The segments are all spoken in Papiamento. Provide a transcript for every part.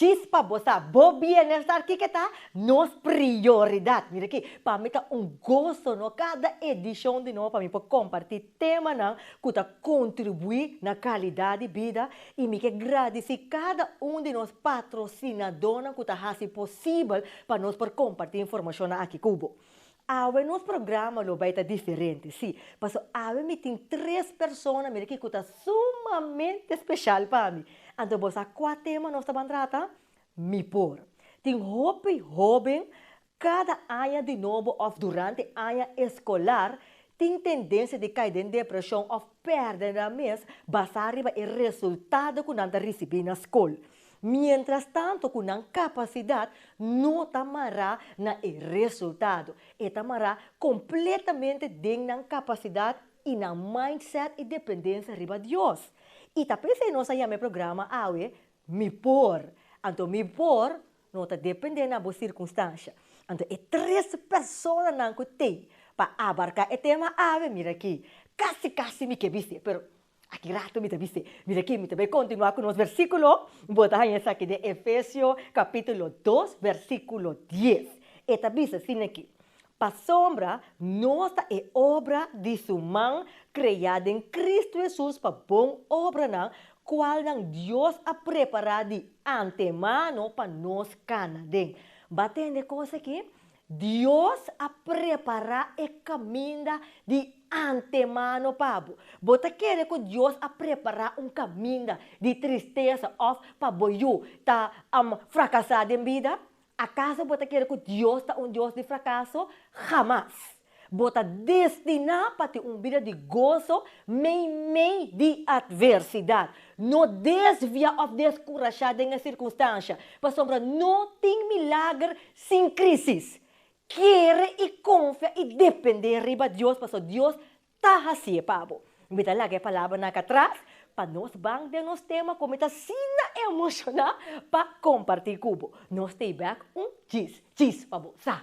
Chispa bo sa bo bienestar kiko ta nos prioridad. Mira aki, pa mi ta un goso no cada edicion di nou pa mi por comparti temanan cu ta contribui na calidad di bida y mi ke gradici cada un di nos patrocinadornan cu ta haci posibel pa nos por comparti informacionnan aki cu bo. Awe nos programa lo bai ta diferente, si, paso awe mi tin tres persona mi riki ku ta sumamente speshal pa mi. Anto bo sa kua tema nos ta ban trata? Mi por. Tin hopi hóben kada aña di nobo òf durante aña eskolar tin tendensia di kai den depreshon òf pèrdè nan mes basá riba e resultado ku nan ta risibí na skol. Mientrastanto ku nan kapasidat no ta mará na e resultado, e ta mará kompletamente den nan kapasidat i nan mindset i dependensia riba Dios. I ta p'esei nos a yama e programa awe Mi Por. Anto mi por no ta dependé na bo sirkunstansia. Anto e tres personanan ku t'ei pa abarká e tema awe, mira akí, kasi kasi mi ke bis'é, pero Aki rato mi ta bisti, Mira ki, mi ta bai kontinuá ku nos versíkulo. Bo ta haña esaki den Efesio kapítulo dos, versíkulo dies. E ta bisa asin aki, Pasobra nos ta e obra di su man, kreá den Kristu Hesus pa bon obranan, kualnan Dios a prepará di antemano pa nos kana den. Bo a tende kos aki? Dios a prepará e kaminda di antemano pa bo. Bo ta kere ku Dios a prepará un kaminda di tristesa òf pa bo yu ta frakasá den bida? Akaso bo ta kere ku Dios ta un Dios di frakaso? Hamas! Bo ta destiná pa tin un bida di goso meimei di atversidat. No desviá òf deskurashá den e sirkunstansha, pasobra no tin milager sin krísis. Kere i konfia i dependé riba Dios, pasobra Dios ta hasié pa bo. Mi ta laga e palabranan aki atras pa nos ban den nos tema ku mi ta asina emoshoná pa kompartí ku bo. Nos stay back un djis djis pa bo sa.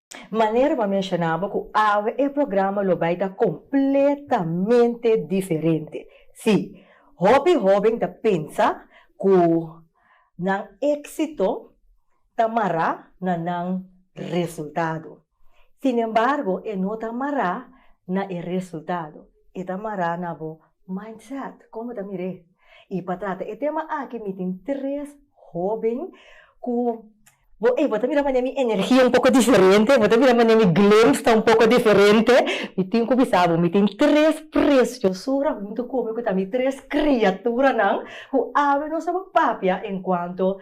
Manera bo a menshoná bo ku awe e programa lo bai ta kompletamente diferente. Sí, hopi hóben ta pensa ku nan éksito ta mará na nan resultado. Sinembargo, e no ta mará na e resultado, e ta mará na bo mindset. Kon bo ta mir'é? Y pa trata e tema aki mi tin tres hoben cu bo ey bo ta mira manera mi energia un poco diferente, bo ta mira manera mi glimpse ta un poco diferente, mi tin cu bisa bo mi tin tres preciosura hunto cu mi cu ta mi tres criaturanan cu awe nos a ba papia en cuanto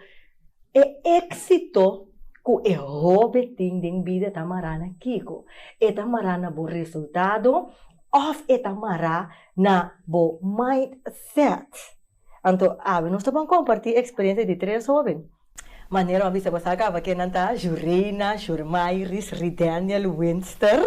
e exito cu e hobe tin den bida ta mara na kico, e ta mara na bo resultado of e ta mara. na bo mindset. Anto awe nos ta bon kompartí eksperensia di tres hóben. Manera bo a bisa bo sa kaba ken nan ta, Jureina, Jurmairis, Rideniel, Winster.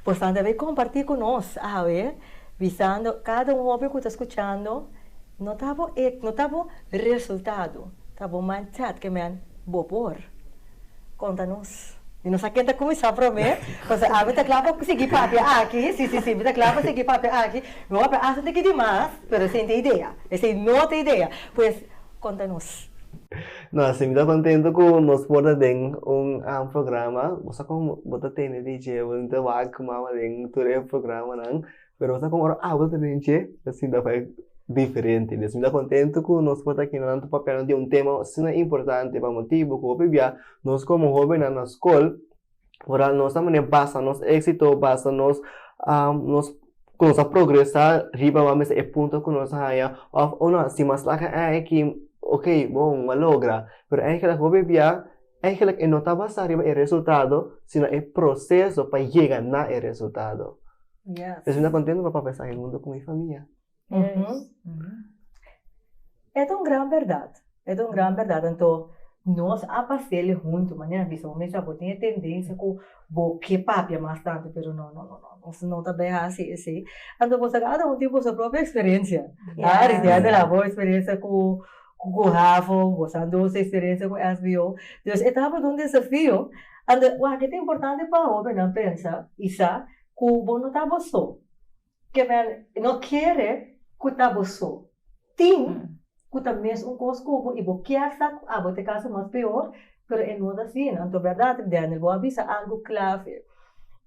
Bo san debe kompartí ku nos awe bisando kada un hóben ku ta skuchando no ta bo no ta bo resultado, ta bo mindset ke men bo por. Conta nos. Mi no sa ken ta cuminsa prome, pasobra ami ta cla pa sigui papia aki, si, si, si, mi ta cla pa sigui papia aki. Mi hopi a hasi un tiki di mas, pero esey n'ta idea, esey no ta idea. Pues, conta nos. No, si mi ta contento cu nos por ta den un programa. Bo sa con bo ta tene di djebel, mi ta wak cu mama den tur e programanan. pero bo sa kon ora awa ta bini che ta sinta fai diferente mes mi ta kontentu ku nos por ta kende nan tur papiando di un tema asina importante pa motibu ku hopi bia nos komo hobennan na skol ora nos ta mane basa nos éksito basa nos nos kon nos ta progresá riba wan mester e punto ku nos a haña òf si mas laga ei aki okey bon lo a logra pero ei kila hopi bia. Eigenlijk e no ta basa riba e resultado sino e proseso pa yega na e resultado. Yes. Mi ta kontento pa papia esaki huntu ku mi famia. Yes. E ta un gran berdad. E ta un gran berdad. Anto nos a pasele huntu. Mane a bisa bo mes bo tin e tendensia ku bo ke papia mas tantu pero no no no no nos no ta bai hasi ese. Anto boso a gata un tipo boso propio eksperensia. Aris di anel a bo eksperensia ku. ku ku havo, gozando su eksperensia ku SBO. Entonces e tabata un desafio. Ante wak e ta importante pa hobennan pensa i sa ku bo no ta bo so. Ke men no kere ku ta bo so. Tin ku ta mes un kos ku bo i bo kier sa ku abo ta e kaso mas peor. Pero e no ta asina, anto berdad ri Daniel, bo a bisa algu clave,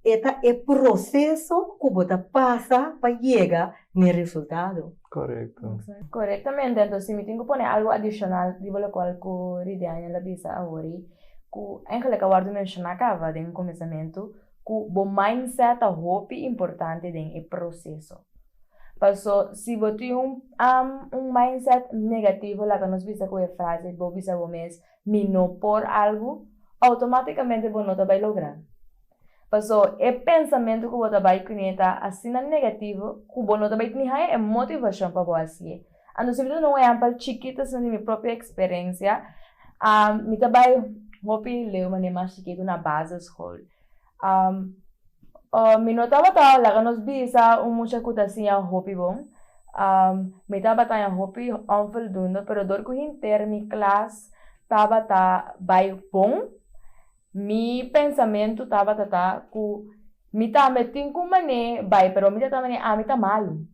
e ta e proceso cu bo ta pasa pa yega na e resultado. Correcto. Corectamente, anto si mi tin cu pone algu adicional riba locual cu ri Daniel a bisa ahori, cu eingelijk a wordo menciona caba den comenzamento, cu bo mindset ta hopi importante den e proceso. Paso si bo tin un mindset negativo, laga nos bisa cu e frase, bo bisa bo mes, mi no por algu, automáticamente bo no ta bai logra. Paso, e pensamentu ku bo ta bai kuné ta asina negativo ku bo no ta bai teni haña e motivashon pa bo hasié. Anto si mi ta duna un ehèmpel chikit asina di mi propio eksperensia, mi ta bai hopi leu manera mas chikitu na baseskol. Am, Oh, mi no tabata laga nos bisa un mucha cu ta siña hopi bon. Am, mi tabata taña hopi onvoldoende, pero dor cu hinter mi klas tabata bay bon, mi pensamentu tabata ta cu mi tambe tin cu man'é bay, pero mi ta tamba ne ami ta malu.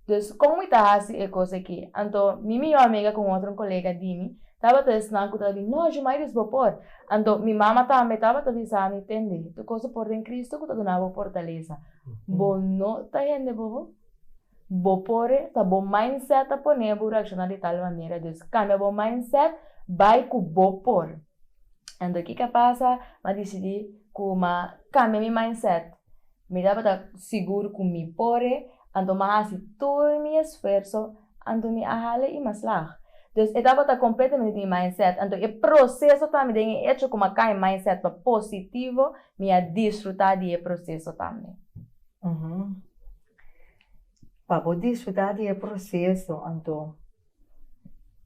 Dus, con mi ta haci e cos aki? Anto, mi mijo amiga cu un otro colega di mi tabata esnan cu ta di, No, Jumaidis, bo por. Anto mi mama tambe tabata bisa mi, Tende tur cosa por den Cristo cu ta duna bo fortaleza. Bo no ta hende bobo. Bo por e, ta bo mindset ta pone bo reacciona di tal manera. Dus, cambia bo mindset, bay cu bo por. Anto kico a pasa? Ma dicidi cu ma cambia mi mindset. Mi tabata sigur cu mi por e, anto m'a haci tur mi esfuerso, anto mi a hala i m'a slag. Dus e tabata completamente di mi mindset, anto e proceso tambe den e hecho cu m'a cay mi mindset pa positivo, mi a disfruta di e proceso tambe. Uhum. Pa bo disfruta di e proceso, anto.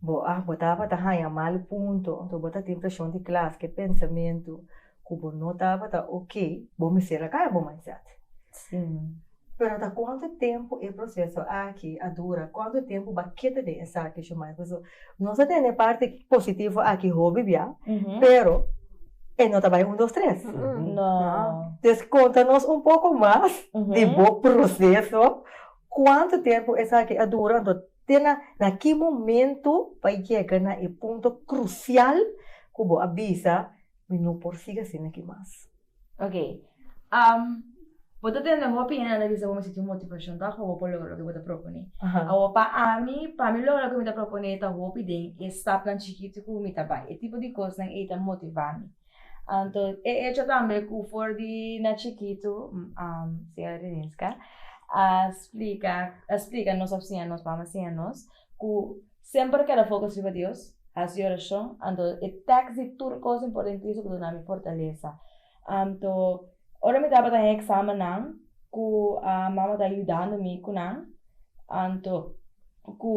Bo a bo tabata haña mal punto ento bo ta tin presion di klas ke pensamentu ku bo no tabata oke bo mester a kambia bo mindset pero ta kuantu tempu e proseso aki a dura kuantu tempu bo a keda den esaki shumai paso nos a tene parti positivo aki hopi bia pero e no ta bai un dos tres entonces konta nos un poko mas di bo proseso kuantu tempu esaki a dura. Te na na ki momento pa yega na e punto crucial cu bo a bisa, Mi no por sigui asina aki mas? Ok. Bo ta tende hopi hende nan ta bisa bo mi sinti un motivacion ta afo bo por logra loke bo ta propone. Awor pa ami, pa mi logra loke mi ta propone ta hopi den e stapnan chikiti cu mi ta bay. E tipo di cosnan ey ta motiva mi. Anto e echo tambe ku for di na chikitu señora Rininska a splika a splika nos a siña nos mama a siña nos ku semper keda fokus riba Dios hasi orashon anto e teks di tur kos importantiso ku duna mi fortalesa anto ora mi tabata den eksamennan. ku mama ta yudando mi ku nan, anto ku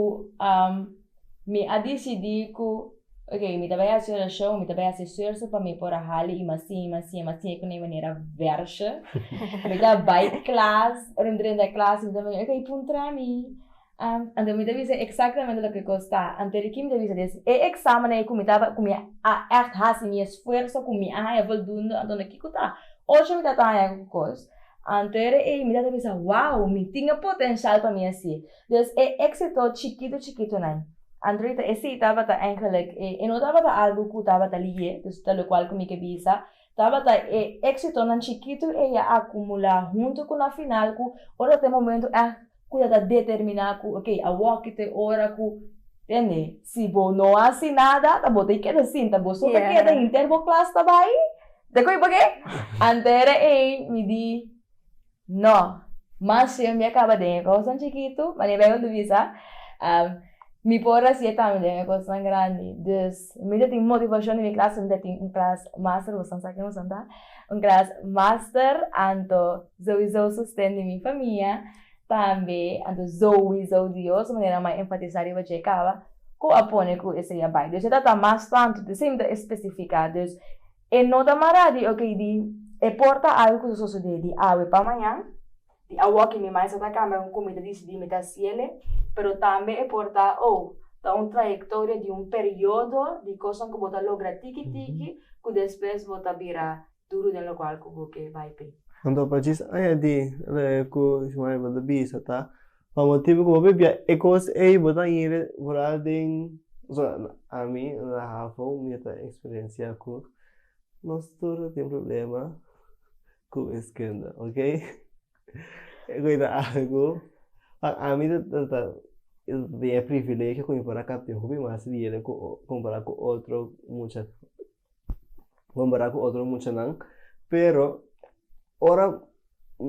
mi a disidí ku ok mi ta bai hasi orashon, mi ta bai hasi esfuerso pa mi por a hali i mas tin i mas tin i mas tin, e ku na e manera vèrsje. Mi ta bai klas, rondrenda klas mi ta bini, ok puntra mi, Anto mi ta bisa exactamente loke cos ta. Anto di ki mi ta bisa des e examennan ei cu mi taba cu mi a echt haci mi esfuerzo cu mi a haya voldoende anto na kico ta ocho mi ta ta haya cu cos anto ei mi ta ta bisa wow mi tin e potencial pa mi haci des e exito chikito chikitonan anto di ta e si tabata eindelijk e no tabata algo cu tabata liye dus ta locual cu mi ke bisa. Tabata e éksitonan chikitu ei a akumulá huntu ku na final ku ora ta e momentu èk ku ta ta determiná ku ok, awoki ta e ora ku, tende, si bo no hasi nada ta bo ta e keda sinta, bo so ta keda hinter bo klas ta bai. Te koe pake? Antere ei mi di. No. Mas shuer mi a caba den e cosnan chikitu, ma Nibel lo bisa, mi por a siye tambe den e cosnan grandi. Dus, mi ta tin motivacion den mi clas, mi ta tin un clas master, boso a sa kico nan ta, un clas master, anto souiso sosten di mi famia, tambe anto souiso Dios, manera mi a enfatisa riba dje caba, cu a pone cu esey a bay. Dus e ta ta mas tantu, te siy mi ta especifica, dus. E no ta mará di oke di e por ta algu ku ta sosodé di awe pa mañan, di awor ke mi maestra ta kambia kon ku mi ta disidí mi ta hasi el'e, pero tambe e por ta oh ta un trayektoria di un periodo di kosnan ku bo ta logra tiki tiki ku despues bo ta bira duru den lokual ku bo ke bai p'e. Anto pa djis aña di loke ku Shmaivel ta bisa ta Pa motibu ku bo pipia e kos ei, bo ta hende vooral den ami na hafo mi ta eksperensia ku nos tur ta tin problema ku wiskinda okay ku ita algu pa ami ta ta ta tin e privilegio ku mi por a kapia hopi mas dinero ku o kompará ku otro mucha compara cu otro muchanan pero ora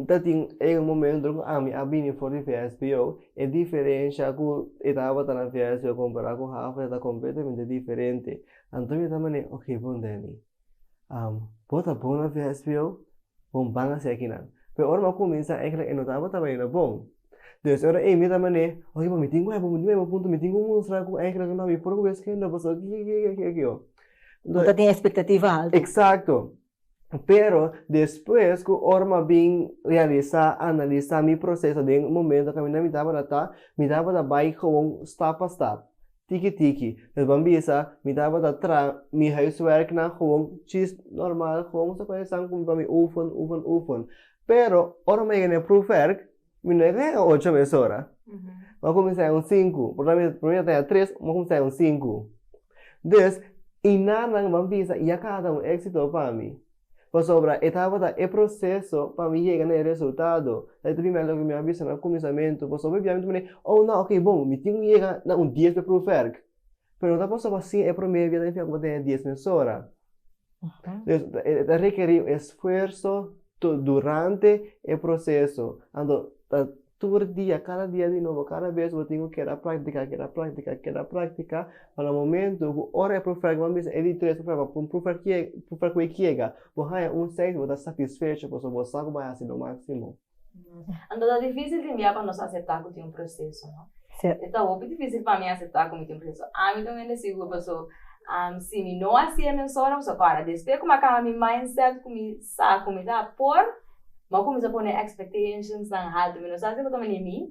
ta tin e momento cu ami a bini for di VSPO e diferencia cu e tabata na VSPO compara cu Havre ta completamente diferente anto mi ta mane ok bon Danny bo ta bon na VSPO? Bo ban a si aki nan pe ora mi a cuminsa ekla e no tabata baña na bon Entonces ora ey mi ta manera oye mi tin wèp mi tin wèp punto mi tin ki mustra ku ey kreka no mi por kumes kende pasobra aki aki aki aki aki'o bo ta tin expectativa alto exacto pero despues ku ora mi a bin realisá analisá mi proceso den un momento ku mi tabata ta mi tabata bai gewoon stap pa stap tiki tiki pues ban bisa mi tabata tra mi huiswerknan gewoon chis normal gewoon sa ku esan pa mi oefen oefen oefen. Pero ora mi a yega na e proefwerk, mi no a yega hega ocho mesora. Mi a kuminsá hega un sinku. Por tanto, mi promé ta hega tres, mi a kuminsá hega un sinku. Des, i nannan ban bisa i a kada un éksito pa mi. Pasobra e tabata e proseso pa mi yega na e resultado. Sa i ta primer loke mi a bisa na kuminsamentu. Pasobra biaha mi ta mira, ow nan, oke bon, mi tin ku yega na un dies pa e proefwerk. Pero no ta pasaba asin e promé bia ta enfia kuma ta e dies mes ora. Entonces e ta rekerí un esfuerso tur durante e proseso. Anto ta tur dia, kada dia di nobo, kada bes bo tin ku keda praktika, keda praktika, keda praktika, pa na momentu ku ora e profer ku bo a bisa e di tres profer, un profer profer ku e kiega bo haña un seis bo ta satisfecho pasobra bo sa ku bo a hasi bo máksimo. Anto ta difícil di mia pa nos aseptá ku tin un proseso, no? Sèt. E ta hopi difícil pa mi aseptá ku mi tin un proseso. Ami ta un hende sigur, pasobra si mi no hasié mes ora, mi sa kòrda. Despues ku mi a kamba mi mindset ku mi sa ku mi ta por, mi a kuminsá pone expectationsnan haltu. Mi no sa si bo ta manera mi,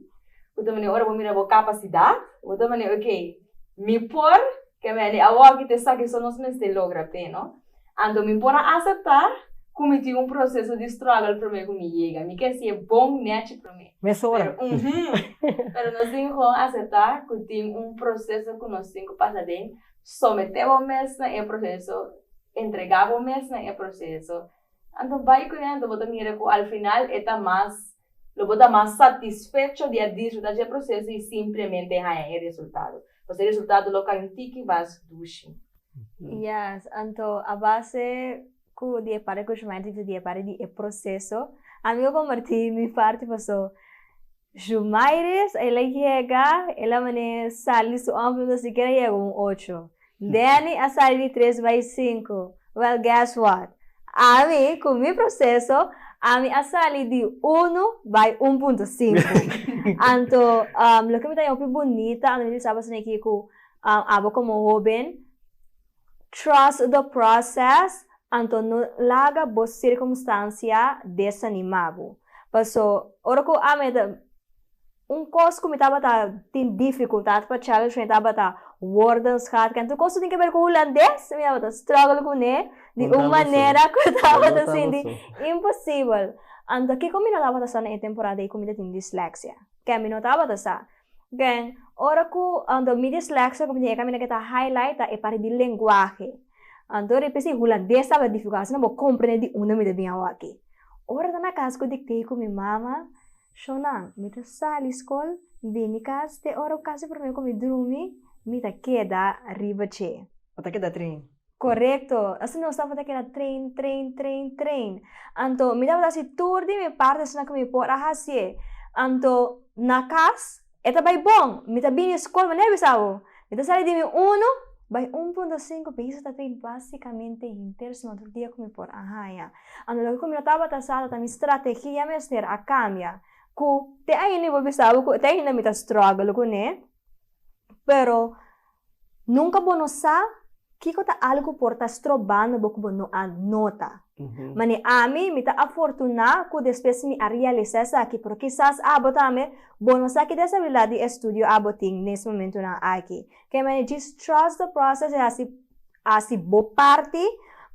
bo ta manera ora bo mira bo kapasidat, bo ta manera, ok, mi por, ke mi hende awòkite sa ke so nos mester logra p'e, no? Anto mi por a aseptá ku mi tin un proseso di struggle promé ku mi yega. Mi ke sié bon nèchi promé. Mesora. Pero, uhum. Pero nos tin kon aseptá ku tin un proseso ku nos tin ku pasa den, someté bo mes na e proseso, entregá bo mes na e proseso. Anto bai kuné, anto bo ta mira ku al final e ta mas. Lo bo ta mas satisfecho di a disfrutá dje proseso i simplemente haña e resultado. Pasobra e resultado lo kai un tiki mas dushi. Yes, anto a base ku di e parti ku Shumael dikta di e parti di e proseso, ami a kompartí mi parti paso Shumaeris el a yega, el a mane sali su òmper, pero sikiera yega un ocho. Danny a sali di tres bai sinku. Well guess what? Ami ku mi proseso ami a sali di unu bai un punto sinku. Anto loke mi ta den hopi bunita anto mi ta bisa boso niki ku abo komo hoben trust the process anto no laga bo sirkumstansia desanima bo paso ora ku ami ta Un kos ku mi tabata tin difikultat pa challenge mi tabata wordens gehad kende kos ku tin ke ber ku hulandes mi tabata struggle kuné di un manera ku tabata sinti imposibel anto kiko mi no tabata sa na e temporada ei ku mi ta tin disleksia ke mi no tabata sa den ora ku anto mi disleksia ku mi tin e kaminda ke ta highlight ta e parti di lenguahe anto ripi si hulandes tabata difikultat asina bo komprende di unda mi ta bin awor aki ora ta na kas ku diktei ku mi mama. Shonan, mi ta sali skol mi bini kas te ora ku kasi promé ku mi drumi mi ta keda riba dje. Bo ta keda tren. Korekto! Asina nos tabata keda tren, tren, tren, tren. Anto mi tabata hasi tur di mi parti asina ku mi por a hasié. Anto na kas E ta bai bon! Mi ta bini skol manera bis awo. Mi ta sali di mi unu bai un punto sinku biso ta trei basikamente henter suma tur dia ku mi por a haña. Anto loke ku mi no tabata sa ta ta mi strategia mester a kambia ku te ainda mi por bisa bo ku te ainda mi ta struggle kuné pero Nunka bo no sa kiko ta algu por ta strobando bo ku bo no a nota. Manera ami, mi ta afortuná ku despues mi a realisá esaki, pero kisas abo tambe bo no sa ki deshabilidat di estudio abo tin nes momentunan aki. Kei manera djis trust the process e hasi Hasi bo parti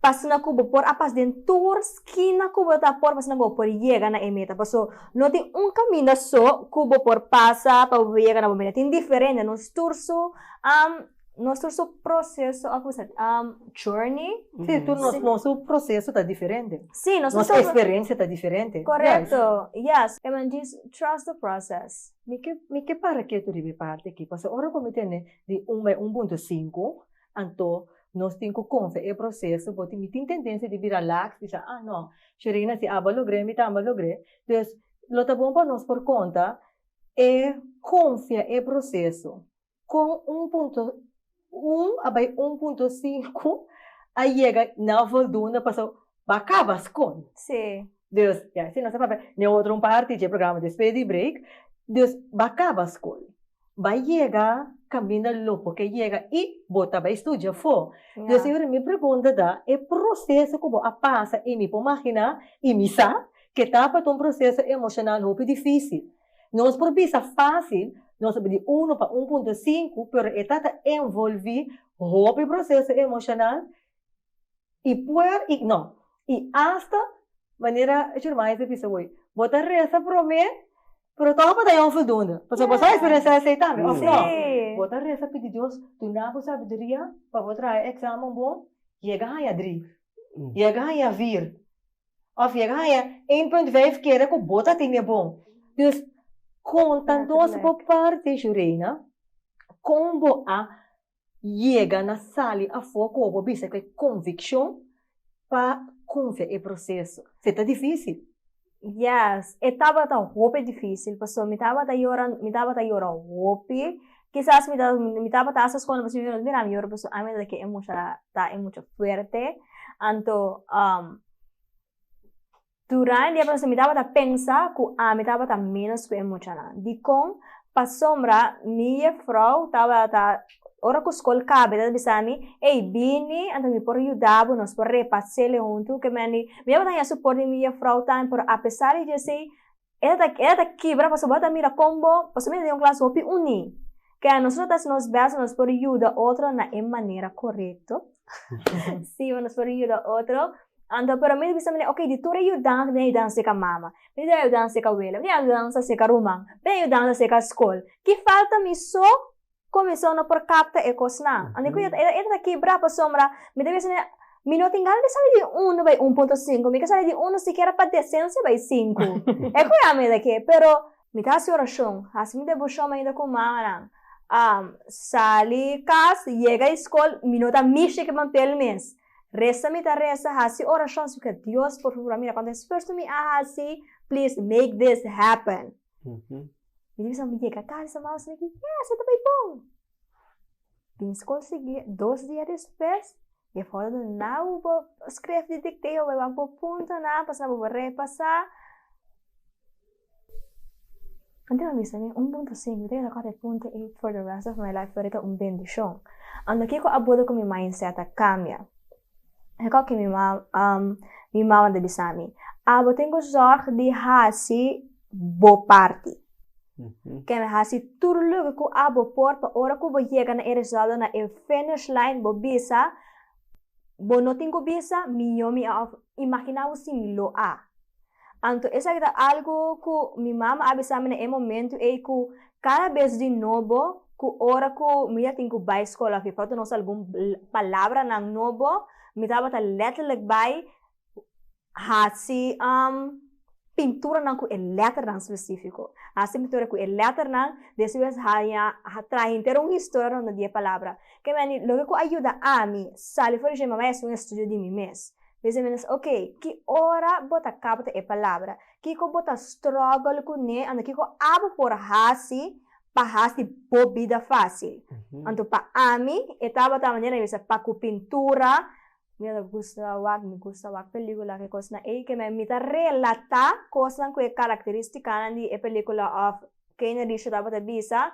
pa asina ku bo por a pas den tur skina ku bo ta por pa asina ku bo por yega na e meta. Paso no tin un kaminda so ku bo por pasa pa bo por yega na bo meta. Tin diferente nos tur su nos tur su proseso òf kisa journey. Si, tur nos nos su proseso ta diferente. Si, nos nos su. Nos eksperensia ta diferente. Korekto, ya. E man djis trust the process. Mi ke mi ke para ketu riba e parti aki paso ora ku mi tende di un bai un punto sinku. Anto, nos tin ku konfia e proseso, bo tin mi tin tendensia di bira laks, di sa, ah, no, Sherina si aba logr'é, mi tambe a logr'é. Dus, lo ta bon pa nos por konta e konfia e proseso. Kon un punto un a bai un punto sinku a yega na voldunda pa sa ba kaba skon. Dus, ya, si nos a papia n'e otro un parti dje programa despues di break, dus ba kaba skol. bai yega kaminda lo bo ke yega i bo ta bai studia fo. Yo siempre mi pregunta ta e proseso ku bo a pasa i mi por maginá i mi sa ke tabata un proseso emoshonal hopi difísil. Nos por bisa fásil, nos ta bai di uno pa un punto sinku, pero e ta ta envolví hopi proseso emoshonal. i puer i no i asta manera e Jeremias a bisa hoy bo ta resa prome pero tog bo ta ya onvoldoende pasobra bo sa experiencia esey tambe of no bo ta resa pidi Dios duna bo sabiduria pa bo traha examen bon yega haya dri yega haya vir of yega haya een punt vijf kere ku bo ta tine bon dus kon ta nos bo parti Shureyna kon bo a Yega na sali afó koba bo bisa ku e konvikshon pa konfia e proseso. K'e ta difísil? Yes, e tabata hopi difísil pasobra mi tabata yora, mi tabata yora hopi. Kisas mi ta, mi tabata hasta escola mi ta siñora no ta mira mi yora pasobra ami no ta ke e mucha ta e mucha fuerte. Anto Durante e proseso mi tabata pensa ku ami tabata ménos ku e muchanan. Dikon? Pasobra mi yevrou tabata, ora ku skol kaba e tabata bisa mi, Ey, bini anto mi por yuda bo, nos por repas'é lehuntu. Kemandi, mi tabata hasi suport di mi yevrou tambe, pero apesar di dj'esei, e ta e ta kibra pasobra bo ta mira kon bo pasobra bo ta den un klas hopi uní ke anos nos ta haci nos bes pa nos por yuda otro na e manera korekto si nos por yuda otro anto pero mi ta bisa manera oke di tur e yudanza mi ta yudanza seka mama mi ta yudanza seka awela mi ta yudanza seka ruman mi ta yudanza seka skol ki falta mi so Comision no por capta e cosnan. Anto cu e e ta kibra pasobra mi ta bisa ne Mi no tin gana di sali di uno bay un punto sinku. Mi ke sali di uno sikiera pa decencia bay sinku. E cu ya mi ta ke. Pero. Mi ta hasi oracion, hasi mi devoshon mainta cu mamanan. Am sali cas, yega di scol, mi no ta mishi ke pampel mes. Resa mi ta resa, hasi oracion sikiera Dios por fabura mira cuanto esfuerso mi a hasi, please make this happen. mi ta bisa mi yega casa mas mi gei yes esta bai bon den school seguir dos dia despues e foto nan na bo bo scrif di dicteo e wak bo punto na pasobra bo bo repasa anto nan bisa mi un punto cinco mi ta keda cu afe punto ey for the rest of my life lo ora ta un bendicion ando kiko a bodo cu mi mindset a cambia. kiko ke mi mam mi mama ta bisami a bo tin ku sòrg di hasi bo parti ken hasi tur lugha ku a bo por pa ora ku bo yega na e resultado na e finish line bo bisa bo no tin ku bisa mi yo mi a of imaginabo si mi lo a. Anto esaki ta algu ku mi mama a bisa mi na e momentu ei ku kada bes di nobo ku ora ku mi ta tin ku bai skol afe for ta nos algun palabranan nobo mi tabata lètterlek bai hasi pinturanan ku e lètternan spesifiko, hasi pintura ku e lètternan despues haña traha henter un historia ronda di e palabra, ke meni loke ku a yuda ami sali for di shoi mama esun estudio di mi mes. Dje Jimenez, Ok, ki ora bo ta capta e palabra? Kico bo ta struggle cu ne? Anto kico abo por haci pa haci bo bida facil? Anto pa ami e tabata manera mi bisa pa cu pintura, mi ta gusta wak, mi gusta wak pelicula, ki cosnan ey, ke mi ta relata cosnan cu e caracteristicanan di e pelicula of Kane Richard tabata bisa,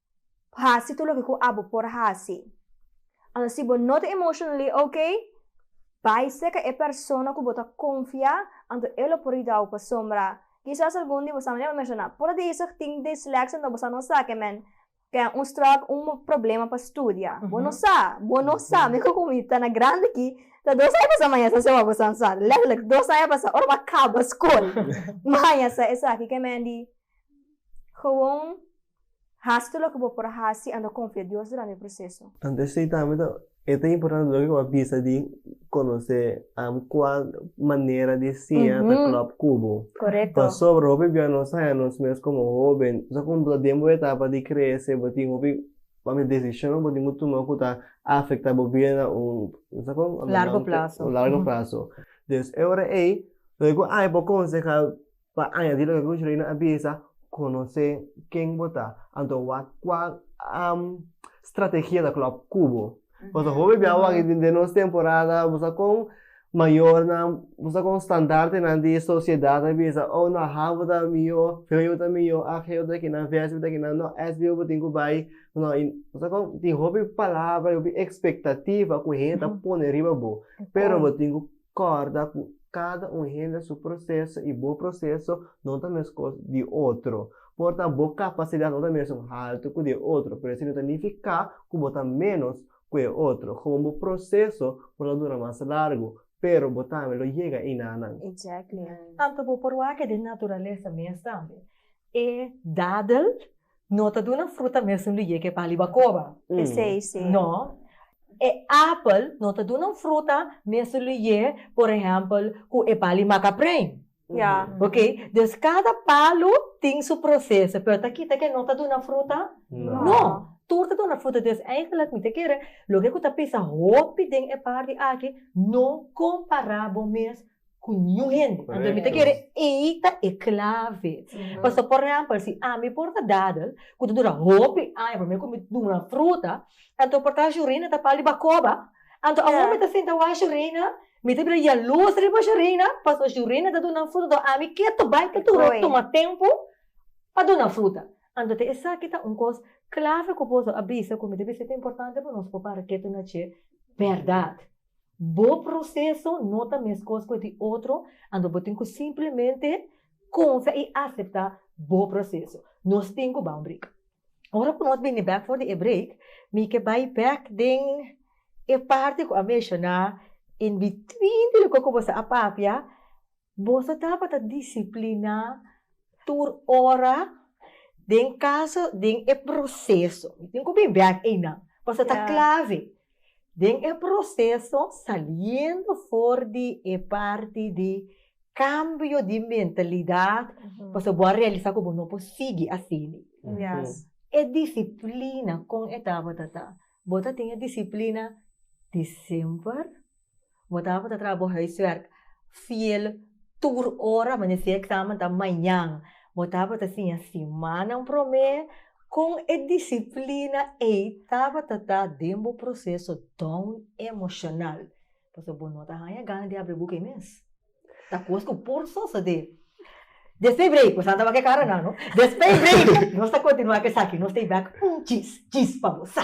hasi tur loke ku abo por hasi. Anto si bo no ta emotionally ok, bai seka e persona ku bo ta konfia, anto e lo por yudau pasobra kisas algun di bosamen e lo menshoná, por a dezig tin dyslexia anto bosa no sa ke men ten un stròk, un problema pa studia. Bo no sa, bo no sa, mi ku mi ta na grandi aki ta dos aña pasá mañana sa siawaw bosa sa, letterlijk dos aña pasá ora bo a kaba skol mañana sa esaki ke men di gewoon. Hasi tur loke bo por hasi ando konfia Dios durante e proseso. Tantu esei tambe ta e ta importante loke ku a bisa di konosé am kua manera di siña ta klòp ku bo. Pasobra hopi bia nos haña nos mes komo hoben, sa ku bo ta den bo etapa di krese bo tin hopi papia desishon ku bo tin ku tuma ku ta afektá bo bida na un sa ku un largo plaso. Entonces e ora ei loke ku ai por konsehá pa aña di loke ku Shirleyna a bisa, konosé ken bo ta, anto wak kua strategia ta klòp ku bo. Pasobra bo mi bia wak den nos temporada bo sa kon mayornan, bo sa kon standartenan di sosiedat a bisa oh nò habo ta mihó, feo ta mihó, ageo ta kinan, vèspita ta kinan, nò SBO bo tin ku bai, nò i bo sa kon tin hopi palabra, hopi ekspektativa ku hende ta pone riba bo, pero bo tin ku Corda cu cada un hende su proceso y bo proceso no ta mescos di otro. Por ta bo capacidad no ta mesun halto cu di e otro, pero esey no ta nifica cu bo ta menos cu e otro. Gewoon bo proceso por ta dura mas largo, pero bo tambe lo yega enanan. Exactly. Anto bo por wak e den naturalesa mes tambe. E dadel No ta duna fruta mesun lu yeke pa riba koba. Pesei si. No. E apel no ta duna un fruta mesun lu ye, por ehèmpel, ku e bali makaprèin. Ya. Oke. Des kada palu tin su proseso, pero ta kita ke no ta duna fruta? No. No. Tur ta duna fruta. Des eigenlijk mi ta kere loke ku ta bisa hopi den e parti aki, no kompará bo mes ku ñu hende. Anto mi ta kere ei ta e klave. Pasobra, por ehèmpel, si ami por ta dadel ku ta dura hopi aña promé ku mi duna fruta, anto mi por ta hashi reina ta pal di bakoba. Anto awor mi ta senta washi reina, mi ta bira yalosa riba shi reina, pasobra shi reina ta duna fruta, anto ami ke ta bai ta dura tuma tempu pa duna fruta? Anto ta esaki ta un kos klave ku boso a bisa ku mi ta bisa ku ta importante pa nos papá para ketu nache bèrdat. Bo proseso no ta meskos ku e di otro, anto bo tin ku simplemente konfia i aseptá bo proseso. Nos tin ku baha un brik. Ora ku nos bini bèk for di e brik, mi ke bai bèk den e parti ku a menshoná in between di loke ku bo sa a papia, Boso tabata disipliná tur ora den kaso den e proseso. Mi tin ku mi bèk einan, pasobra ta klave. Den e proseso saliendo for di e parti di kambio di mentalidat, pasobra bo a realisá ku bo no por sigui asina. E disiplina kon e tabata ta? Bo ta tin e disiplina disember, Bo ta por ta traha bo huiswerk fiel tur ora, mester si e eksamen ta mañan. Bo ta por ta siña simannan promé kon e disiplina ei tabata ta den bo proseso don emoshonal. Pasobra bo no ta haña gana di abri e buk ei mes. Ta kos ku por so so de. Despues breik, bo sa tabata ke karanan, no? Despues breik nos ta kontinuá ku esaki, nos ta bai un chis, chis pa bo sa.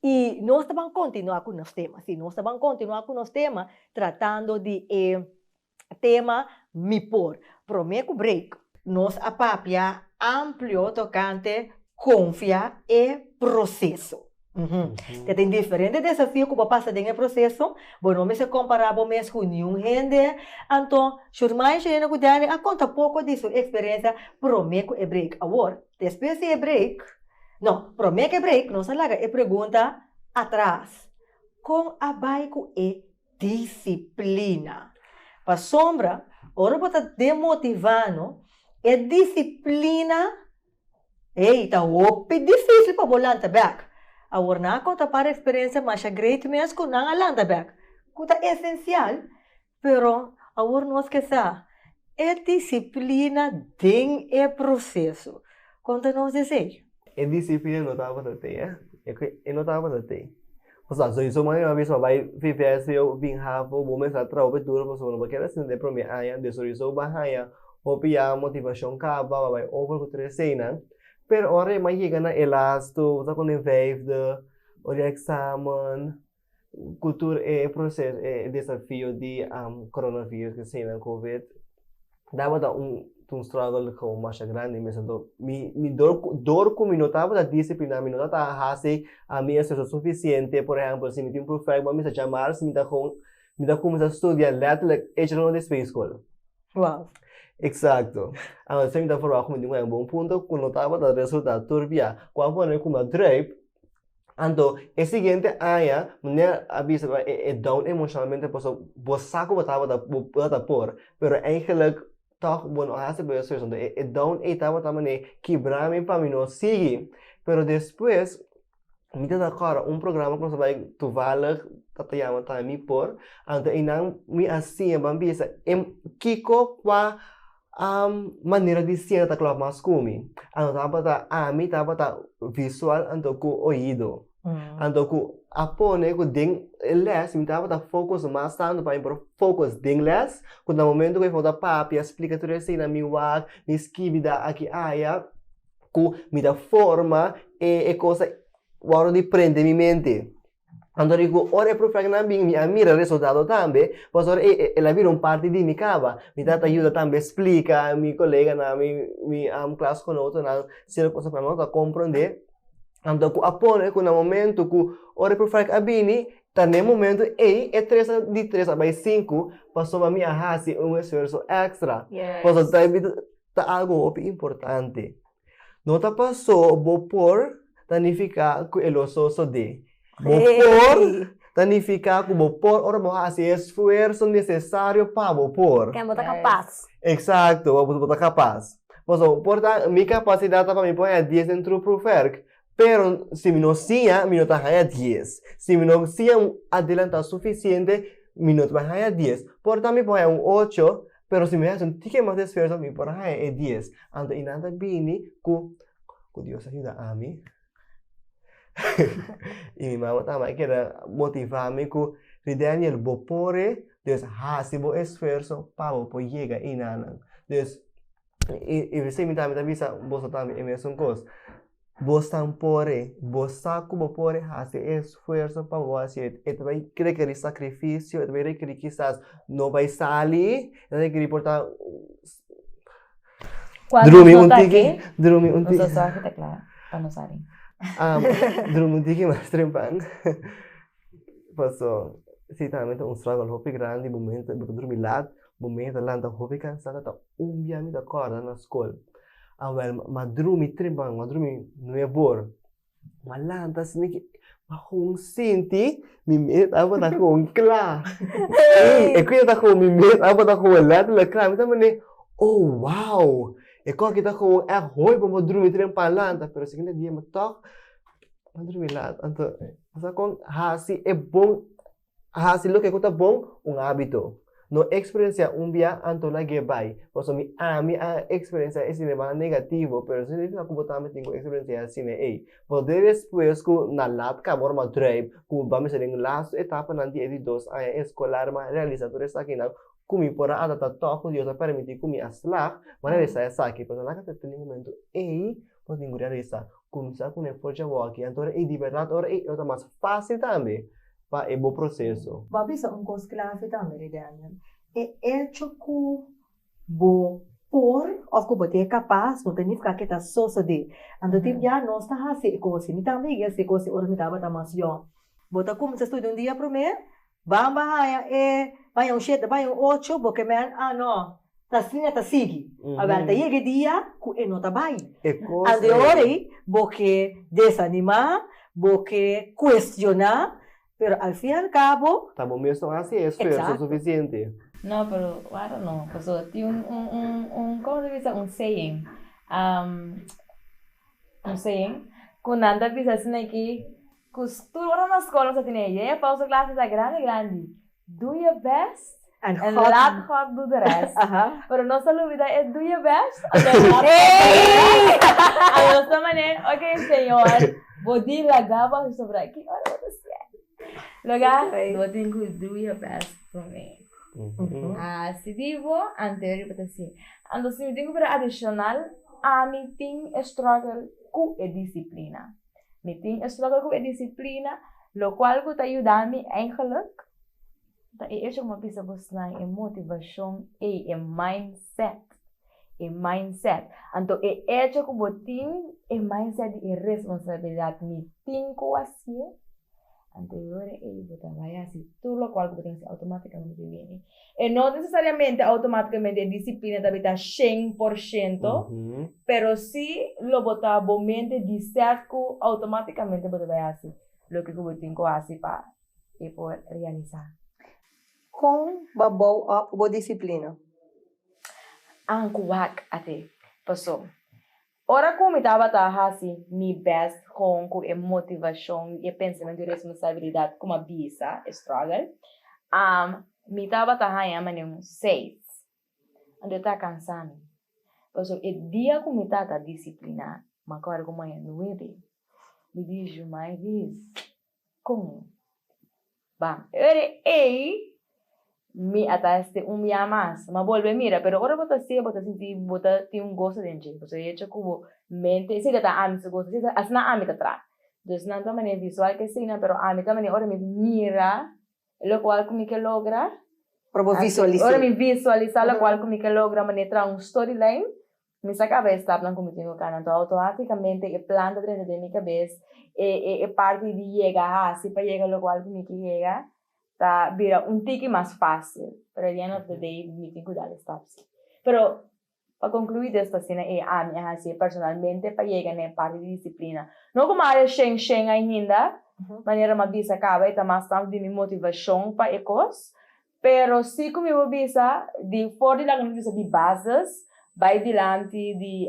Y nos ta ban continua cu nos tema. Si, nos ta ban continua cu nos tema, tratando di e tema Mi por. Prome cu break. Nos a papia amplio tocante confia e proceso. Te tin diferente desafio cu bo a pasa den e proceso. Bo no mester compara bo mes cu niun hende. Anto, Shurmai, Shirena cu Danny a conta poco di su experiencia prome cu e break. Awor, despues di e break. No, promé ke break nos a laga e pregunta atras, Kon a bai ku e disiplina? Pasobra ora bo ta demotivá no, e disiplina, ey, ta hopi difísil pa bo lanta bèk. Awor nan a konta par eksperensia masha great mes ku nan a lanta bèk, ku ta esensial Pero awor nos ke sa e disiplina den e proseso. Kon ta nos esei? E disiplina no tabata tei, eh? E no tabata tei. Pasobra sowieso manera nan mester a bai VVSD o Vinhavo, bo mester a traha hopi duro pasobra no bo a keda asina den e promé aña. Di sowieso bo a haña hopi ya motivashon kaba, bo a bai over ku tur eseinan. Pero ora e mai yega na e lastu, bo ta kon den vijfde o di eksamen, Kultur e proseso e desafio di coronavirus ke seinan covid tabata un un struggle komo masha grandi mesa do mi mi dor dor ku mi no tabata disiplinado mi no tabata a hasi a mi esfuerso sufisiente por ehempel si mi tin proyèkto bo a misa jamar si mi ta kon mi ta kuminsá studia lètterlek echi rònt di sfei skol eksakto also mi ta probá ku mi tin wak bo un punto ku no tabata resultá tur bia ku a pone ku mi a drùip Anto e siguiente aña mne a bisa pa e down emocionalmente pasobra bo sa ku bo tabata bo no ta por pero eigenlik tog bo no a hasi pa yo esfuersonan tu e down ey tabata manera kibra mi pa mi no sigui pero despues mi ta ta kor un programa ku ta bay toevallig ta ta yama tami por anto eynan mi a siña ban bisa kiko kua manera di siega ta klòp mas ku mi. Anto tabata ami tabata visual anto ku oido. Anto ku a pone ku den e lès mi tabata fokos mas tantu pa mi por fokos den lès, ku na momentu ku e fo ta papia a splika tur esena mi wak, mi skibi da aki aya, ku mi ta forma e e kosa wòrdu di prende mi mente. Anto di ku ora e profetanan bin, mi a mira resultado tambe, pasobra e el a bira un parti di mi kaba. Mi tabata yuda tambe splika mi koleganan, mi mi klasgenotennan cier kosnan ku nan tabata komprende, anto ku a pone ku na momento ku ora e profeet a bini, ta na e momento ei e tres di tres a bai sinku, pasobra mi a hasi un esfuerso extra, pasobra ta algu hopi importante. No ta pasó bo por ta nifiká ku e lo sosodé. Bo por ta nifiká ku bo por ora bo hasi e esfuerso nesesario pa bo por. Ken bo ta kapas. Eksakto, ora bo ta kapas. Pasobra bo por ta, mi kapasidat ta pa mi por haña dies den Troep Proewerk, pero si mi no siña, mi no ta haña dies. Si mi no siña adelantá sufisiente, mi no ta haña dies. Por tambe mi por haña un ocho. Pero si mi haci un tique mas di esfuerzo mi por a haya e dies. Anto y nan ta bini cu cu Dios a yuda ami y mi mama ta a keda motiva mi cu Ri Daniel bo por e, pues haci bo esfuerzo pa bo por yega y nan. Pues i i bisí mi ta mi ta bisa boso tambe e mesun kos, bos tan por e bos sa ku bo por hasi e esfuerso pa bo hasi e e ta bai rekerí sakrifisio e ta bai rekerí kisas no bai sali e ta rekerí por ta drumi un tiki drumi un tiki drumi un tiki mas temprano paso si tambe ta un struggle hopi grandi bo ta drumi lat bo mey ta lanta hopi cansada ta un bia mi ta corda na school a wel ma drumi tri man ma drumi nueb or ma lanta asina ke ma con sinti mi mey ta tabata con cla ey e cuia ta con mi mey ta tabata con e lanta la cla mi ta mene oh wow e cos aki ta con ec hoy bo bo drumi tre pan lanta pero siguiente dia mi tok mi drumi lanta anto mi sa con haci e bon A hasi loke ku ta bon, un ábito. No eksperensiá un bia anto na ke bai, pasobra ami a eksperensiá e sinema negativo, pero esei no signifika ku bo tambe tin ku eksperensiá e sine ei. Bo ta duna despues ku na lat kaba ora m'a drùip, ku bo mester den lastu etapanan di e di dos aña eskolar, m'a realisá tur esakinan, ku mi por a adaptá tòg ku Dios a permití ku mi a slag, m'a realisá esaki. Pero na laga ta tene momentu ei ku a tin ku realisá. kumsa ku nan forcha wòkje anto ora ey di bèrdat ora ey lo ta mas fásil tambe pa e bo proseso. Bo a bisa un kos klave tambe rei Daniel, e echo ku bo por òf ku bo ta e kapas no ta nifiká ku e ta sosodé. Anto tin bia nos ta hasi e kos ei. Mi tambe higi hasi e kos ei ora mi tabata mas yòn. Bo ta kumsa studia un dia promé Ban ba haña e baña un shete baña un ocho bo ke men a no ta asina ta sigui awel ta yega e dia ku e no ta bai an de ora ei bo ke desanimá bo ke kuestioná pero al fin al kabo ta bo mesun a hasi e esfuerso sufisiente. No pero wara no paso tin un un un un como ta bisa un saying un saying ku nan ta bisa asina aki Cus tur ora nos school nos a tene e yeye pausa clase ta grandi grandi do your best and let God do the rest pero nos a lubida e do your best and let God do the rest a nos ta mane ok Señor bo di laga bo hasi sobra aki ora bo ta siente laga bo tin cu do your best for me a si di bo anterior bo ta siente anto si mi tin cu bira adicional ami tin e struggle cu e disciplina. Mi tin e struggle ku e disiplina lo kual ku ta yuda mi eigenlik ta e echo ku mi a bisa bo snai e motivashon ei, e mindset, e mindset. Anto e echo ku bo tin e mindset di e responsabilidat mi tin ku a sie Anterior a ey bo ta bay haci tur locual cu bo tin haci automaticamente bo bini. E no necesariamente automaticamente e disciplina ta beta shen por shento, pero si lo bo ta bo mente di sef cu automaticamente bo ta bay haci loke cu bo tin cu haci pa e por realiza. Con bo bow up bo disciplina? Ankuwak a te paso. Ora ku mi tabata hasi mi bèst kon ku e motivashon i e pensamentu di responsabilidat ku mi a bisa, e strògel, am, mi tabata haña manera un seis. Anto e ta kansá mi. Pasobra e dia ku mi tata disipliná mi a kòrda ku mi haña nuebe, mi dici, Jumai Riis, Con Ba, e ora ey mi a ta hester un bia mas, ma bolbe a mira, pero ora bo ta haci'e bo ta sinti bo ta tin un goso den dje, pasobra e hecho cu bo mente esey ta ta ami su goso, esey asina ami ta traha. Entonces nan ta manera visual ke asina, pero ami ta manera ora mi mira locual cu mi ke logra, ora mi visualisa locual cu mi ke logra, manera traha un storyline Mi sa caba e stapnan cu mi tin cu cana, anto autoaticamente e plan ta drenta den mi cabes, e e e parti di yega haci pa yega loco al cu mi ke yega ta bira un tiki mas facil, pero at the end of the day mi tin cu dal e stap si. Pero pa conclui des ta asina e ami a haci personalmente pa yega na e parti di disciplina, no como awe shen shen ainda, manera mi a bisa caba e ta mas tanto di mi motivacion pa e cos, Pero si ku mi bo bisa, di for di laga mi bisa di bases, bai dilanti di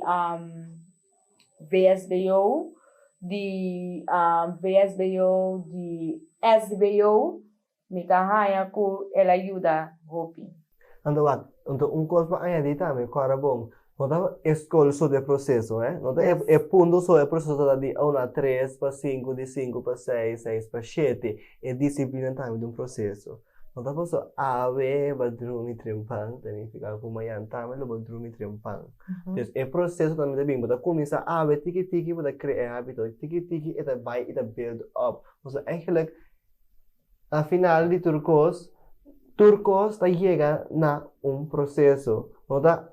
VSBO, di VSBO, di SBO, mi ta haña ku el a yuda hopi. Anto wak, anto un kos pa añadí tambe, kòrda bon, No ta e skol so de proseso, eh. No ta e e punto so, e proseso ta di uno a tres pa sinku, di sinku pa seis, seis pa shete. E disiplina tambe ta un proseso. No ta paso awe ba drumi trempan, ta nifiká ku mañan tambe lo bai drumi trempan. Pues e proseso tambe ta bin, bo ta kuminsá awe tiki tiki, bo ta krea e hábito. Tiki tiki e ta bai, e ta build up. Pasobra, eigenlijk Na final di tur kos, tur kos ta yega na un proseso. No ta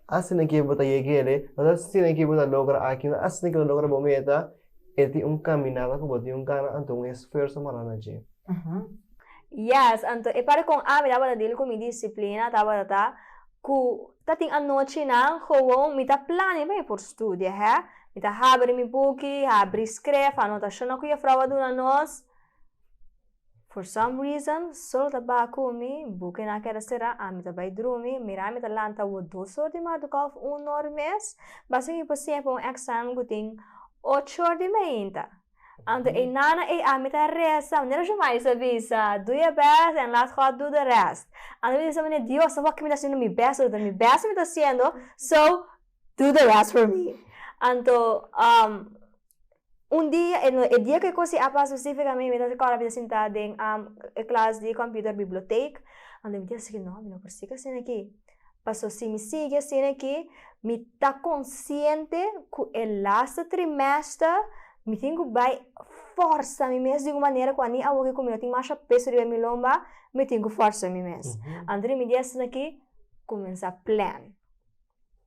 asina ke bo ta yeg'ele, no ta asina ke bo ta logra aki, no ta asina ke bo ta logra bo meta, e tin un kaminada ku bo tin ku gana, anto un esfuerso mara na dje. Yes, anto e parte kon ami tabata dil ku mi disiplina tabata ta ku ta tin anochinan gewoon mi ta plania pa mi por studia, hè. Mi ta habri mi buki, habri skref, anotashonan ku Jefrouw a duna nos. for some reason sol ta baha cu mi, buki na keda cera, ami ta bay drumi, mira ami ta lanta awor dos or di madruga of un or mes, basta mi por siña pa un examen cu tin ocho or di mainta, anto eina na ey ami ta resa manera Jose Mari sa bisa, do your best and let God do the rest, anto mi ta bisa manera Dios sa hoki mi ta haciendo mi best awe ta mi best mi ta haciendo, so do the rest for me, anto. Un dia, e no e dia ke kosi a pasa spesifika mi ta kòrda mi ta sinta den e klas di kòmpiuter bibliotek ando mi ta sigui no mi no por sigui asina aki pasobra si mi sigui asina aki mi ta konsiente ku e lasta trimester mi tin ku bai fòrsa mi mes di un manera ku ani awo ku mi no tin masha peso riba mi lomba mi tin ku fòrsa mi mes anto di mi dia asina aki kuminsá plèn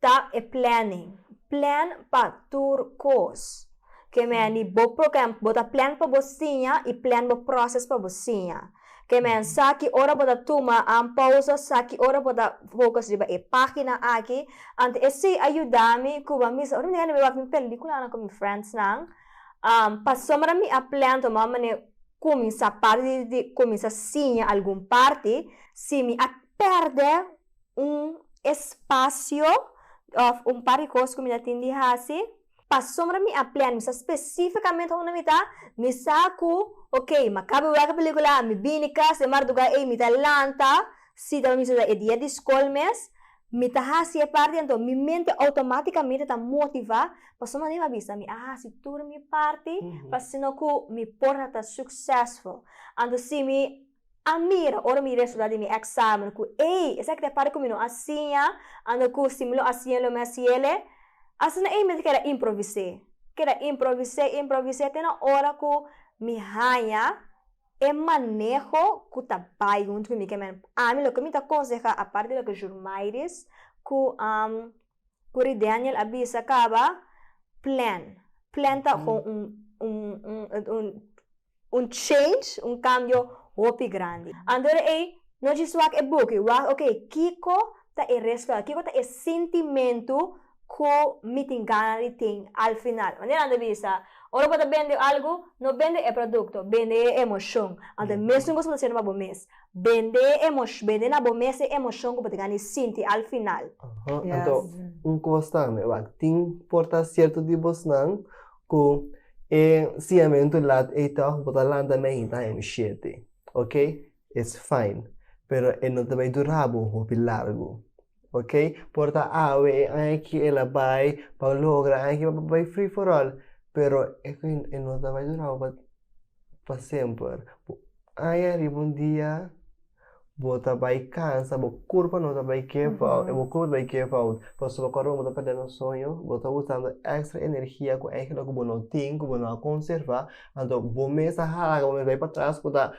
Ta e planning, plan pa tur kos. Ke meni bo program bo ta plan pa bo siña i plan bo proces pa bo siña. Ke men sa ki ora bo ta tuma an pausa, sa ki ora bo ta focus riba e pagina aki. Ante esei a yuda mi ku bo a misa ora mi ta yanda mi wak mi pelikulanan ku mi friends nan, pasobra mi a plan to mama ne kuminsa parti di kuminsa siña algun parti, si mi a perde. un espasio òf un par di kos ku mi ta tin di hasi. Pasobra mi a plan, mi sa spesífikamente unda mi ta, mi sa ku okey, mi a kaba wak e pelíkula, mi bini kas den marduga ei, mi ta lanta, si ta mester ta e dia di skol mes, mi ta hasi e parti anto mi mente outomátikamente ta motivá pasobra mi a bisa mi a hasi tur mi parti, pa asina ku mi por ta suksesful. Anto si mi A mira ora mi resulta di mi examen cu ey, esaki ta para cu mi no a siña anto cu si mi lo a siña lo mi a siele. Asina ey mi ta keda improvis'e, keda improvis'e, improvis'e te na ora cu mi haña e maneho cu ta bay hunto cu mi. Ke men, ami loke mi ta conseha aparte di loke Jurmairis cu. Kuri Daniel a bisa kaba, plan. Plan ta kon un un un change, un kambio hopi grandi. Anto di ei, no djis wak e buki, wak oke kiko ta e resultado, kiko ta e sintimentu ku mi tin gana di tin al final. Manera nan ta bisa, ora bo ta bende algu, no bende e produkto, bende e emoshon. Anto e mes nu bo su ta hasiendo pa bo mes. Bende e emosh, bende na bo mes e emoshon ku bo ta gana e sinti al final. Aho, anto un kos tambe, wak, tin por ta sierto di bosnan ku e siñamentu lat ei tòg bo ta lanta me hinta hende mi shete, oke, it's fine, pero e no ta bai dura bo hopi largu. ok por ta awe e aña ki el a bai pa logra aña ki el a bai free for all pero e e no ta bai dura bo pa pa semper aña riba un dia bo ta bai cansa bo curpa no ta bai give out bo curpa no ta bai give out pasobra bo a corda bo bo ta perdendo un sueño bo ta usando extra energia cu aña loke bo no tin cu bo no a conserva anto bo mes a hala bo mes a bai patras cu ta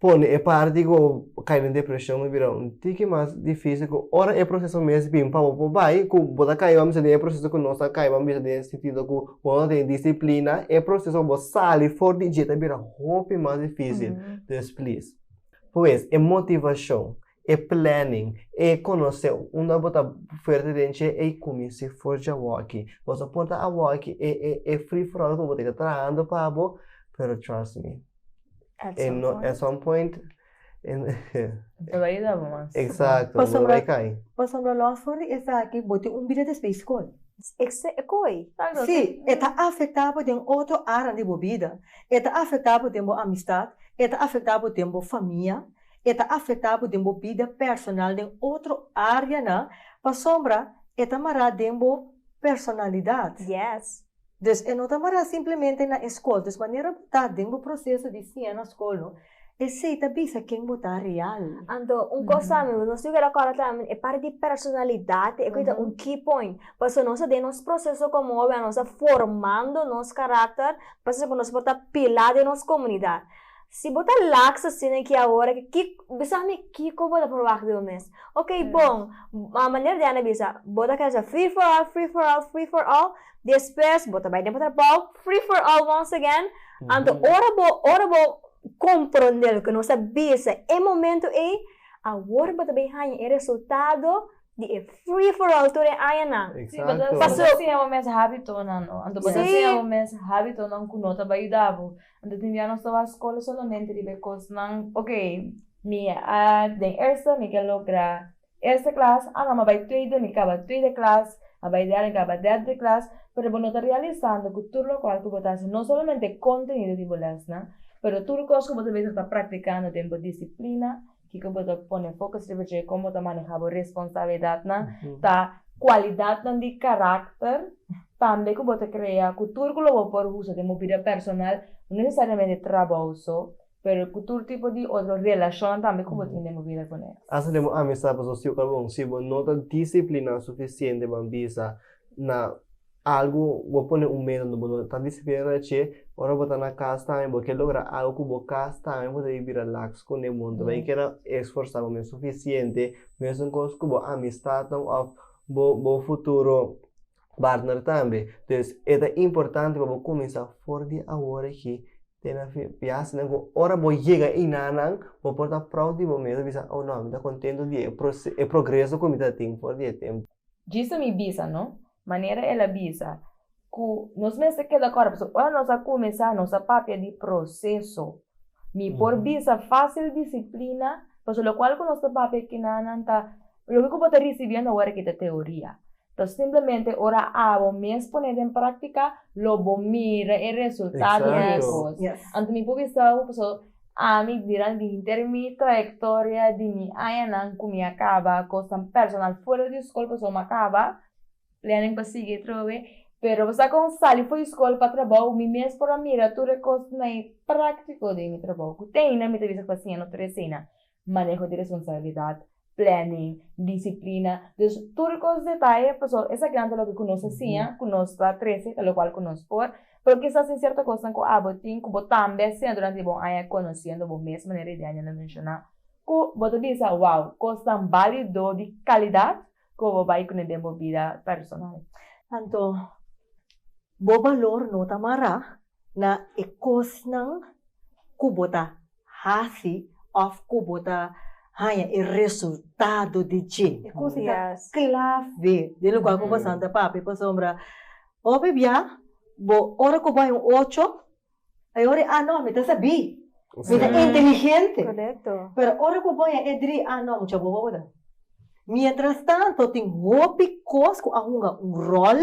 pone e parti ku bo kai den depreshon lo bira un tiki mas difisil ku ora e proseso mes bin pa bo por bai ku bo ta kaiba mester den e proseso ku nos ta kaiba mester den e sentido ku bo no ta tene disiplina e proseso pa bo sali for di dje ta bira hopi mas difisil, pues plis pues e motivashon e planning, e conoce unda bo ta fuerte den che e cuminsi forja awaki. Bo ta porta awaki e e e free for all cu bo ta yega trahando pa bo pero trust me At e some no point. at some point e no Ta bay yega bo mas. exacto bo ta bay cay. Pasobra lo for di esaki bo tin un bida despues di school. Ese e coy. Si, e ta afecta bo den otro aran di bo bida. E ta afecta bo den bo amistad, e ta afecta bo den bo famia, E ta afektá bo den bo bida personal den otro áreanan pasobra e ta mará den bo personalidat. Yes. Dus e no ta mará simplemente na e skol. Dus manera bo ta den bo proseso di siña na skol no, esei ta bisa ken bo ta real. Anto, un kos ta mi, nos tin ku rekòrda tambe e parti di personalidat, e ku ta un key point. Pasobra nos ta den nos proseso komo hóbennan, nos ta formando nos karakter pa ser ku nos por ta pilá den nos komunidat. Si bo ta laks asina aki awor aki, ki, bisa mi kiko bo ta forwak di bo mes? Ok, bon, a manera di Ana bisa, bo ta keda sa free for all, free for all, free for all, despues bo ta bai den pa trabou, free for all once again. Anto ora bo, ora bo komprondé loke nos a bisa e momento ei, awor bo ta bai haña e resultado di e free for all tur e añanan. Sí, bo ta, bo ta siña bo mes hábitonan, no? Anto bo ta siña bo mes hábitonan ku no ta bai yuda bo, Anto tin dia nos ta wak skola solamente riba e kosnan ok mi a den eerste mi ke logra eerste klas a no mi a bai tweede mi kaba tweede klas a bai derde mi kaba derde klas pero bo no ta realisando ku tur lokual ku bo ta hasi no solamente e kontenido di bo lèsnan pero tur kos ku bo ta besi ta praktikando den bo disiplina Kiko bo ta pone focus riba dje? Kon bo ta maneha bo responsabilidatnan? Ta cualidatnan di caracter tambe cu bo ta crea cu tur cu lo bo por usa den bo bida personal, no necesariamente trabou so, pero cu tur tipo di otro relacionnan tambe cu bo tin den bo bida cu nes. Asta den bo amistad pasobra si oca bon si bo no ta disciplina suficiente, bo a bisa na Algu bo pone un medu unda bo no ta disiplinado na che, ora bo ta na cas tambe bo ke logra algu cu bo cas tambe bo ta di bira lax con e mundo bay ke ta esforsa bo mes suficiente mesun cos cu bo amistadnan of bo bo futuro partner tambe pues e ta importante pa bo cuminsa for di awor aki te na fi biashi nan cu ora bo yega ina nan bo por ta proud di bo mes bo bisa oh no mi ta contento di e proce e progreso cu mi ta tin for di e tempo. Djisa mi bisa no, manera el a bisa, ku nos mester keda kòrda, pasobra ora nos a kumesá nos a papia di proseso. Mi por bisa fásil disiplina, pasobra lokual ku nos ta papia kinanan ta loke ku bo ta risibiendo awor aki ta teoria, ta simplemente ora abo mes pone den práktika lo bo mira e resultado di e kos. Anto mi por bisau, pasobra. Ami bira di hinter mi trayektoria di mi añanan ku mi a kaba kosnan personal fora di skol pasobra mi a kaba planning pa sigui atrobe pero bosa kon sali for di skol pa trabou mi mes por a mira tur e kosnan praktiko den mi trabou ku te aina mi ta bisa ku ta siña no tur eseinan Maneho di responsabilidat, planning, disiplina, dus tur e kos detaye paso esa gran ta loke ku nos a siña ku nos ta trese ta lokual ku nos por, pero kisas tin sierto kosnan ku abo tin ku bo tambe a siña durante di bon aña konosiendo bo mes manera Idianya lo menshoná ku bo ta bisa wow kosnan bali do di kalidat Sco bo bay cune den bo bida personal. Anto bo balor no ta mara na e cosnan cu bo ta haci of cu bo ta haya e resultado di dje. E cosnan ta clave den lugar cu bo santa papia pasobra hopi bia bo ora cu bo hay un ocho E ora, ah no, mi ta sabí, mi ta inteligente. Korekto. Pero ora ku bo ya e dri, ah no, mucha bobo bo ta. Mientrastanto tin hopi kos ku a hunga un ròl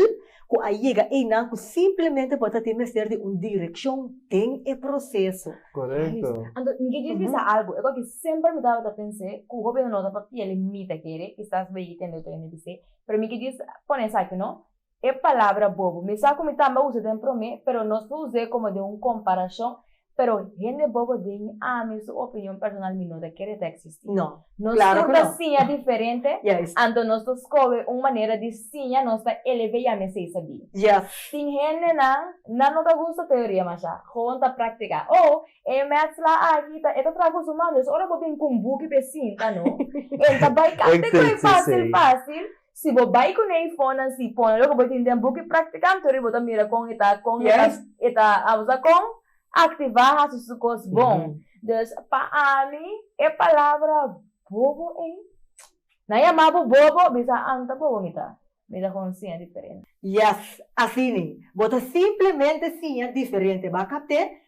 ku a yega einan ku simplemente bo ta tin mester di un direkshon den e proseso. Korekto. Anto mi ke djis bisa algu, e kos ku semper mi tabata pens'é, ku hopi anto no ta papiel mi ta kere, kisas bo yegi tende otro hende bis'é, pero mi ke djis pone esaki, no? e palabra bobo. Mi sa cu mi tambe a usa den prome, pero nos lo us'é como den un comparacion, pero hende bobo den ami su opinion personal mi no ta kere ta existi. No, Nos claro tur cu ta no. siña diferente, Juist. anto nos lo scoge un manera di siña nos ta eleve ya mesey sabí. Yes. Tin hendenan nan no ta gusta teoria masha, gewoon ta practica. Oh, e maths la aki ta e ta traha cu su mami, dus ora bo bin cu un buki p'e sinta no, en ta bay cante cu e facil facil, Si bo bai ku nei fónnan si pone loke bo tin den buki Praktikanto riba bo ta mira kon e ta kon e ta e ta abo sa kon aktivá hasi su kos bon. Dus pa ami e palabra bobo ei nan yamá bo bobo bisa an ta bobo mi ta mi ta kon siña diferente. Yes asina bo ta simplemente siña diferente baka te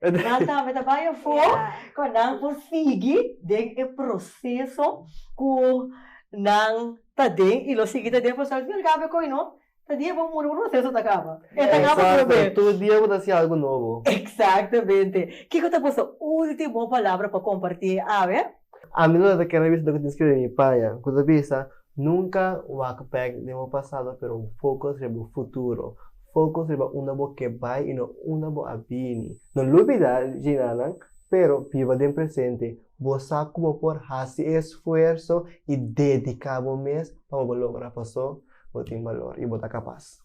Nan tambe ta bay afo cu nan por sigui den e proceso cu nan ta den y lo sigui ta den pasobra al fin y al cabo e coy no ta dia bo muri un proceso ta caba. E ta caba por be. Exacto, tur dia bo ta haci algo nobo. Exactamente. Kico ta boso ultimo palabra pa comparti e awe? Ami no ta kere bisa loke tin skirbi mi paña ku ta bisa, Nunka wak bek den bo pasado pero fokus riba bo futuro. Fokus riba unda bo ke bai i no unda bo a bini. No lubida djinanan, pero biba den presente. Bo sa ku bo por hasi esfuerso i dediká bo mes pa bo bo logra pasó. Bo tin balor i bo ta kapas.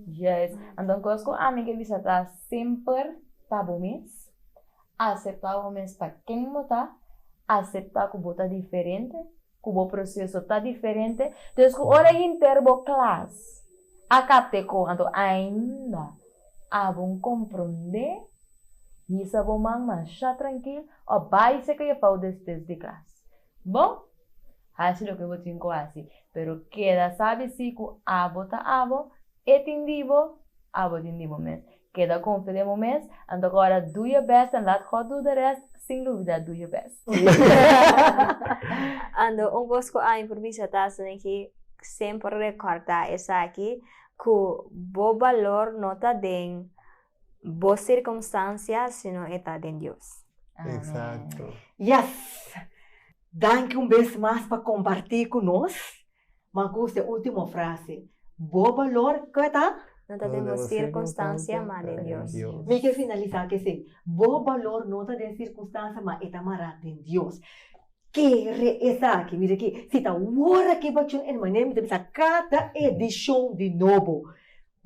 Yes. Anto un kos ku ami ke bisa ta semper ta bo mes Aseptá bo mes pa ken bo ta, aseptá ku bo ta diferente, ku bo proseso ta diferente. Des ku ora hinter bo klas a kapte kon anto ainda a bon komprondé, hisa bo man mashá trankil òf bai seka jefao despues di klas. Bo? Haci loke bo tin cu haci, pero keda sabi si cu abo ta abo, e tin di bo, abo tin di bo mes. Keda confia den bo mes, anto agora do your best and laat God do the rest, sin lubida do your best. Ando un cos cu ami por bisa ta asina ki, semper recorda esaki, cu bo balor no ta den. Bo circunstancia sino e ta den Dios. Exacto. Yes! Danki un bes mas pa comparti cu nos. Manco wos den ultimo frase. Bo balor, con e ta? No ta den bo circunstancia, ma den Dios. Mi kier finalisa cu esey. Bo balor no ta den circunstancia, ma e ta mara den Dios. Kere esaki? Mira aki, si ta wor aki bachun hermane mi ta bisa cada edicion di nobo.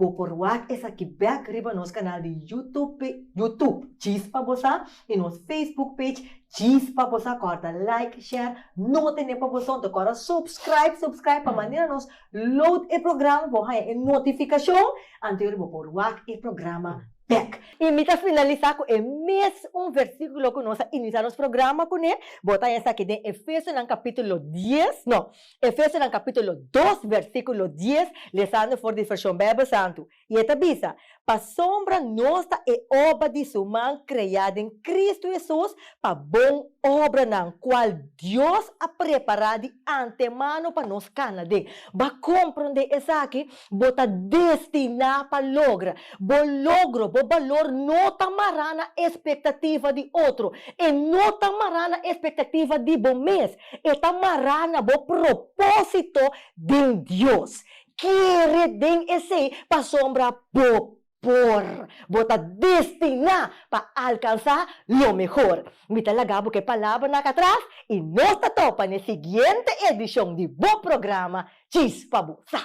Bo por wak esaki bek riba nos kanal di YouTube, YouTube Chispa Bo Sa i nos Facebook page Chispa Bo Sa. Kòrda like, share, no tene pa bo tonto, kòrda subscribe, subscribe, pa manera nos load e programa bo haña e notifikashon antes ora bo por wak e programa bek. I mi ta finalisá ku e mes un versíkulo ku nos a inisá nos programa kuné. Bo ta haña esaki den Efesonan kapítulo dies, no. Efesonan capítulo dos versículo dies, lesando for di Version Bijbel Santu. I e ta bisa, Pasobra nos ta e oba di su man creá den Cristo Jesús pa bon obranan, cual Dios a prepará di antemano pa nos cana den. Bo a comprendé esaki? Bo ta destiná pa logra. Bo logro, bo balor no ta mará na expectativa di otro. E no ta mará na expectativa di bo mes. E ta mará na bo propósito den Dios. Kere den esei pasobra bo por. Bo ta destiná pa alkansá lo mehor. Mi ta laga bo ke palabranan ak atras i nos ta topa na e siguiente edishon di bo programa Tjis pa bo sa.